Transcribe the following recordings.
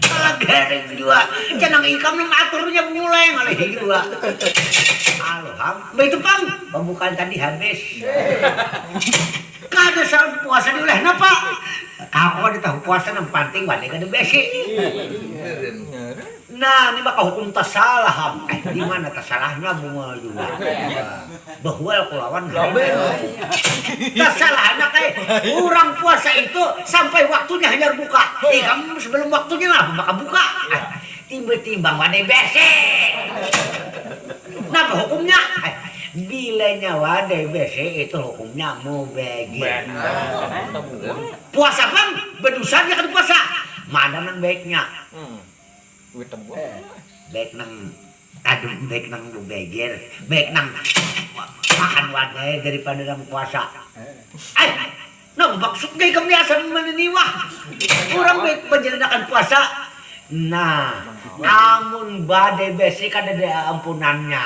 Taladering jua, jar nang ikam nang aturnya bungulai ngalihi jua. Aluh am, baitu pang pambukaan tadi habis. Kada saut puasa diulah napa? Kawa ditahu puasa nang panting wani kada besi. Nah, ini maka hukum tasalah am, dimana tasalahnya bunga jua bahual ku lawan tasalahannya kaya urang puasa itu sampai waktunya hanyar buka ikam sebelum waktunya napa maka buka timbul timbang wadai bersih napa hukumnya bila nya wadai bersih itu hukumnya mubagir puasa pang bedusa nya kada puasa mana nang baiknya. Baik nang kadem, baik nang bebeger, baik nang tahan wadai daripada nang puasa. Ai, nang maksud gaya kebiasaan mana ni wah? Urang baik panjalanakan puasa. Nah, amun badai bersih kadada ampunannya.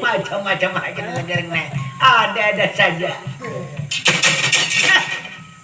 Macam-macam haja nang diajarkan ne, ada-ada saja.